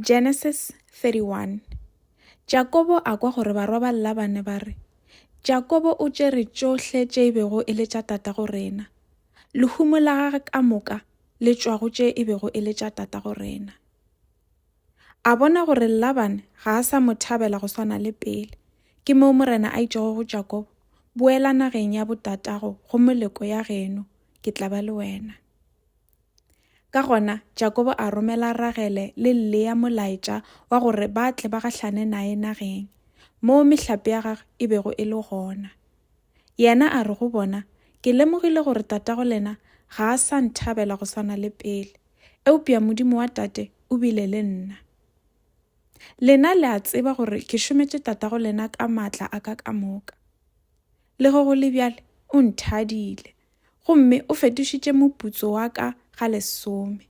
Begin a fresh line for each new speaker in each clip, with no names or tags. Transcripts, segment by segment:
Genesis 31 Jakobo a kwa gore barwa ba Labane ba re, Jakobo o tšere tšohle tše e bego e le tša tatago rena, lehumo la gage ka moka le tšwago tše e bego e le tša tatago rena. A bona gore Labane ga a sa mo thabela go swana le pele, ke moo Morena a itšego go Jakobo, Boela nageng ya botatago go moleko ya geno, ke tla ba le wena. Ka gona, Jakobo a romela Ragele le Lea molaetša wa gore ba tle ba gahlane naye nageng, moo mehlape ya gagwe e bego e le gona. Yena a re go bona, Ke lemogile gore tatago lena ga a sa nthabela go swana le pele, eupša Modimo wa tate o bile le nna. Lena le a tseba gore ke šometše tatago lena ka matla a ka ka moka. Lego go le bjale o nthadile, gomme o fetošitše moputso wa ka ga lesome.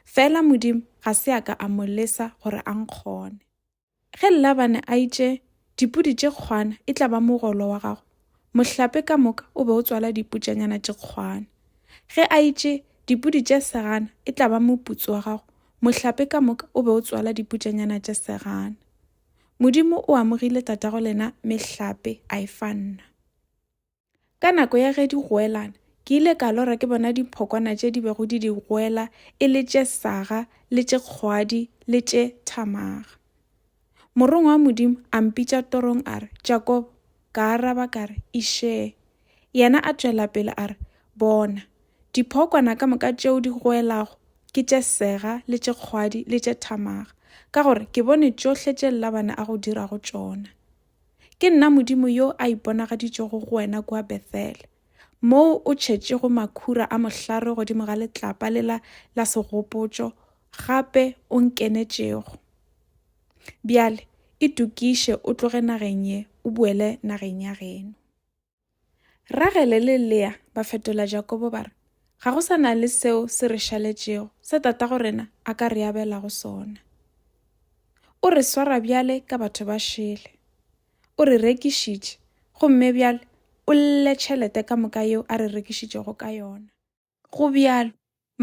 Fela Modimo ga se a ka a mo lesa gore a nkgone. Ge Labane a itše, Dipudi tše kgwana e tla ba mogolo wa gago, mohlape ka moka o be o tswala diputšanyana tše kgwana. Ge a itše, Dipudi tše segana e tla ba moputso wa gago, mohlape ka moka o be o tswala diputšanyana tše segana. Modimo o amogile tatago lena mehlape a e fa nna. Ka nako ya ge di goelana, ke ile ka lora ke bona diphokwana tše di bego di di goela e le tše saga le tše kgwadi le tše thamaga. Morongwa wa Modimo a mpitša torong a re, Jakobo, ka araba ka re, Išee. Yena a tšwela pele a re, Bona, diphokwana ka moka tšeo di goelago ke tše sega le tše kgwadi le tše thamaga, ka gore ke bone tšohle tše Labane a go dirago tšona. Ke nna Modimo yo a iponagaditšego go wena kua Bethele, moo o tšhetšego makhura a mohlare godimo ga letlapa lela la segopotšo gape o nkenetšego. Bjale itokiše o tloge nageng ye o boele nageng ya geno. Ragele le Lea ba fetola Jakobo ba re, Ga go sa na le seo se re šaletšego se tatago rena a ka re abelago sona. O re swara bjale ka batho ba šele. O re rekišitše, gomme bjale o lle tšhelete ka moka yeo a re rekišitšego ka yona. Go bjalo,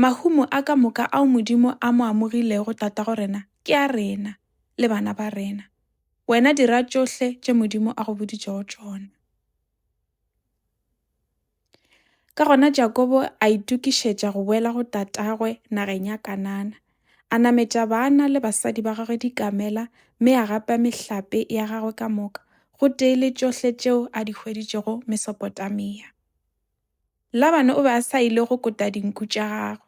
mahumo a ka moka ao Modimo a mo amogilego tatago rena ke a rena le bana ba rena. Wena dira tšohle tše Modimo a go boditšego tšona. Ka gona Jakobo a itokišetša go boela go tatagwe nageng ya Kanana. A nametša bana le basadi ba gagwe dikamela mme a gapa mehlape ya gagwe ka moka, gotee le tšohle tšeo a di hweditšego Mesopotamia. Labane o be a sa ile go kota dinku tša gagwe,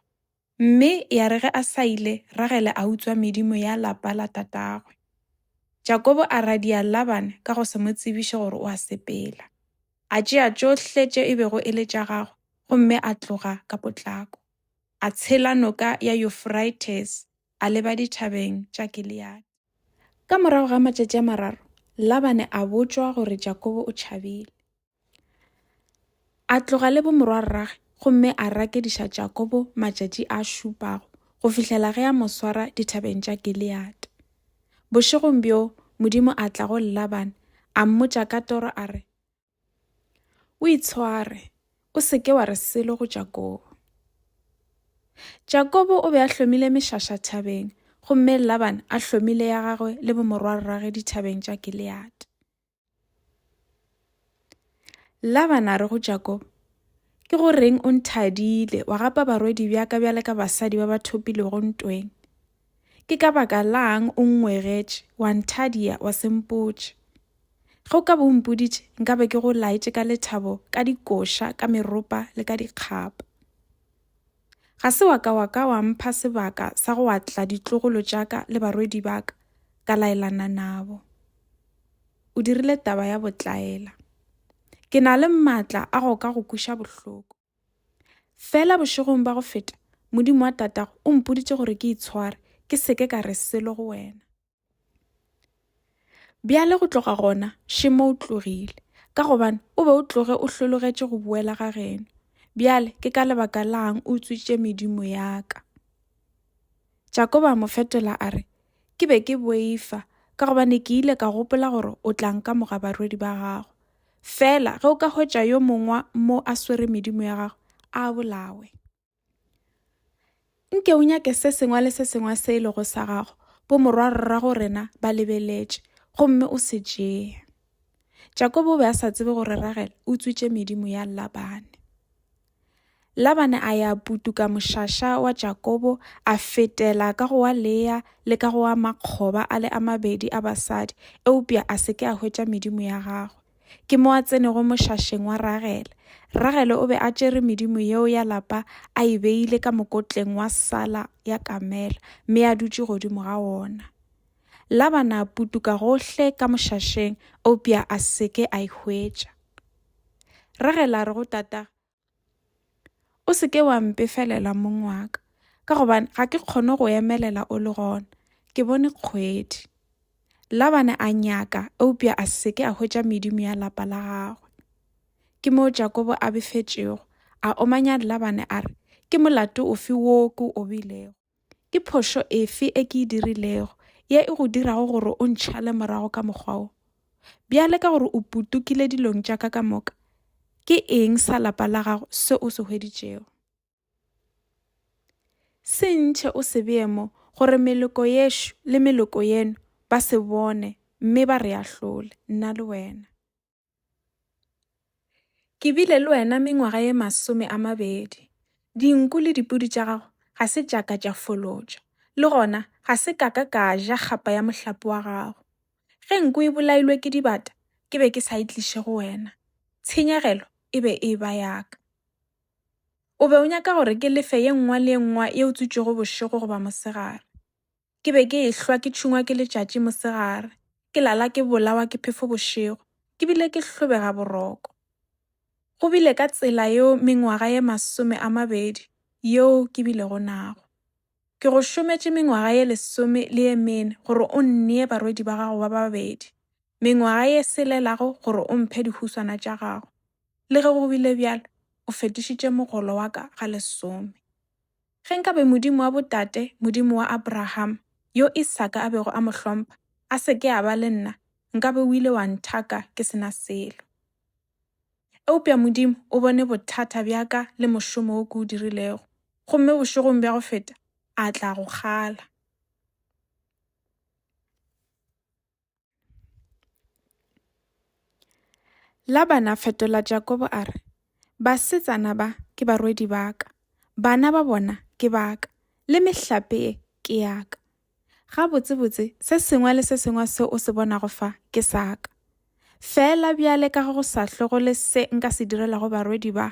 mme ya re ge a sa ile, Ragele a utswa medimo ya lapa la tatagwe. Jakobo a radia Labane ka go se mo tsebiše gore o a sepela. A tšea tšohle tše e bego e le tša gagwe gomme a tloga ka potlako. A tshela noka ya Yufrates a leba dithabeng tša Gileade. Ka morago ga matšatši a mararo, Labane a botšwa gore Jakobo o tšhabile. A tloga le bomorwarragwe gomme a rakediša Jakobo matšatši a šupago go fihlela ge a mo swara dithabeng tša Gileade. Bošegong bjo Modimo a tla go Laban a mmotša ka toro a re, O itshware, o se ke wa re selo go Jakobo. Jakobo o be a hlomile mešaša thabeng gomme Laban a hlomile ya gagwe le bomorwarragwe dithabeng tša Gileade. Laban a re go Jakobo, Ke go reng o nthadile, wa gapa barwedi bjaka bjale ka basadi ba ba thopilego ntweng? Ke ka baka lang o nngwegetše, wa nthadia, wa sempotše? Ge o ka bo o mpoditše, nkabe ke go laetše ka lethabo, ka dikoša, ka meropa le ka dikgapa. Ga se wa ka wa ka wa mpha sebaka sa go atla ditlogolo tša ka le barwedi ba ka, ka laelana nabo. O dirile taba ya botlaela. Ke na le maatla a go ka go kuša bohloko. Fela bošegong ba go feta, Modimo wa tatago o mpoditše gore ke itshware, ke seke ka re selo go wena. Bjale go tloga gona, Šemo o tlogile, ka gobane o be o tloge o hlologetše go boela ga geno. Bjale ke ka lebaka lang o utswitše medimo ya ka? Jakoba a mo fetola a re, Ke be ke boifa, ka gobane ke ile ka gopola gore o tla nka moga barwedi ba gago. Fela ge o ka hwetša yo mongwa mo a swere medimo ya gago, a bolawe. nke o nyake se sengwe le se sengwe se e lego sa gago bo morwarrago rena ba lebeletše gomme o se tšee jakobo o be a sa tsebe gore ragela o tswitše medimo ya labane labane a ya putuka mošaša wa jakobo a fetela ka go wa leya le ka go wa makgoba a le a mabedi a basadi eupša a se ke a hwetša medimo ya gagwe Ke mo a tsenego mošašeng wa Ragele. Ragele o be a tšere medimo yeo ya lapa a e beile ka mokotleng wa sala ya kamela mme a dutše godimo ga wona. Labana a putuka gohle ka mošašeng eupša a se ke a e hwetša. Ragele a re go tatagwe, o se ke wa mpefelela mong wa ka ka gobane ga ke kgone go emelela o le gona ke bone kgwedi labane a nyaka eupša a se ke a hwetša medimo ya lapa la gagwe ke moo jakobo a befetšego a omanya labane a re ke molato ofe wo ke o bilego Ke phošo efe e ke e dirilego ye e go dirago gore o ntšhale morago ka mokgwa wo? Bjale ka gore o putukile dilong tša ka ka moka, ke eng sa lapa la gago se o se hweditšego? Se ntšhe o se bee mo gore meloko yešo le meloko yeno ba se bone mme ba re ahlole, nna le wena. Ke bile le wena mengwaga ye masome a mabedi. Dinku le dipudi tša gago ga se tša ka tša folotša, le gona ga se ka ka ka ja kgapa ya mohlape wa gago. Ge nku e bolailwe ke dibata ke be ke sa e tliše go wena, tshenyegelo e be e eba ya ka. O be o nyaka gore ke lefe ye nngwa le ye nngwa ye o tswitšwego bošego goba mosegare. Ke be ke ehlwa ke tšhungwa ke letšatši mosegare, ke lala ke bolawa ke phefo bošego, ke bile ke hlobega boroko. Go bile ka tsela yeo mengwaga ye masome a mabedi yeo ke bilego nago. Ke go šometše mengwaga ye lesome le ye mene gore o nnee barwedi ba gago ba babedi, mengwaga ye selelago gore o mphe dihuswana tša gago. Le ge go bile bjalo, o fetišitše mogolo wa ka ga lesome. Ge nkabe Modimo wa botate, Modimo wa Abrahama, yo Isaka a bego a mo hlompha, a se ke a ba le nna, nkabe o ile wa nthaka ke se na selo. Eupša Modimo o bone bothata bja ka le mošomo wo ke o dirilego, gomme bošegong bja go feta a tla go kgala. Labana a fetola Jakobo a re, Basetsana ba ke barwedi ba ka, bana ba bona ke ba ka, le mehlape e ke ya ka. Gabotsebotse se sengwe le se sengwe se o se bonago fa ke sa ka. Fela bjale ka go sa hlogole se nka se direlago barwedi ba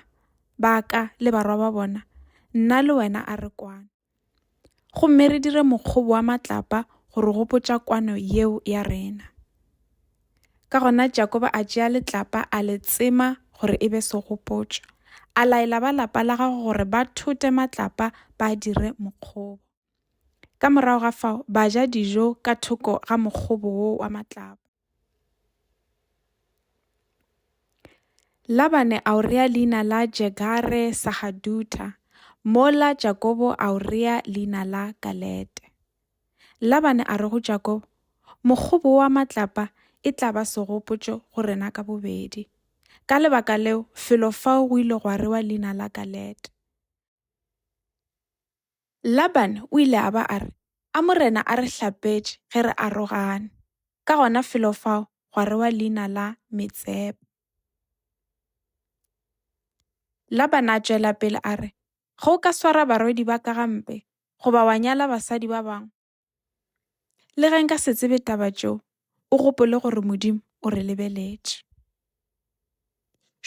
ba ka le barwa ba bona, nna le wena a re kwana. Gomme re dire mokgobo wa matlapa go re gopotša kwano yeo ya rena. Ka gona Jakoba a tšea letlapa a le tsema gore e be segopotšo. A laela ba lapa la gago gore ba thote matlapa ba dire mokgobo. Ka morago ga fao ba ja dijo ka thoko ga mokgobo wo wa matlapa. Labane a o rea leina la Jegare Sahadutha, mola Jakobo a o rea leina la Galete. Labane a re go Jakobo, Mokgobo wa matlapa e tla ba segopotšo go rena ka bobedi. Ka lebaka leo, felo fao go ile gwa rewa leina la Galete. Labane o ile a ba a re, A Morena a re hlapetše ge re arogane. Ka gona felo fao gwa rewa leina la Metsepa. Labane a tšwela pele a re, Ge o ka swara barwedi ba ka gampe, goba wa nyala basadi ba bangwe, Le ge nka se tsebe taba tšeo, o gopole gore Modimo o re lebeletše.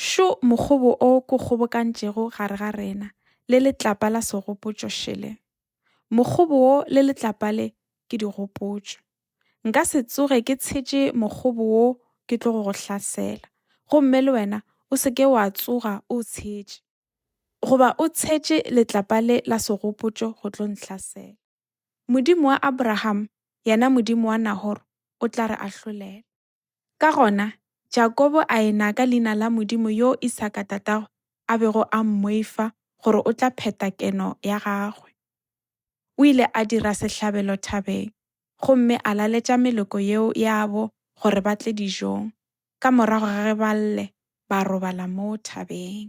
Šo mokgobo o ko kgobokantšego gare ga rena le letlapa la segopotšo šele. Mokgobo wo le letlapa le ke digopotšo. Nka se tsoge ke tshetše mokgobo wo ke tlo go go hlasela. Gomme le wena o se ke wa tsoga o tshetše. Goba o tshetše letlapa le la segopotšo go tlo nhlasela. Modimo wa Abraham, yena Modimo wa Nahor, o tla re ahlolela. Ka gona, Jakobo a e-na ka leina la Modimo yo Isaka tatagwe a bego a mmoifa gore o tla pheta keno ya gagwe. O ile a dira sehlabelo thabeng gomme a laletša meloko yeo yabo gore ba tle dijong ka morago ga ge ba lle ba robala moo thabeng.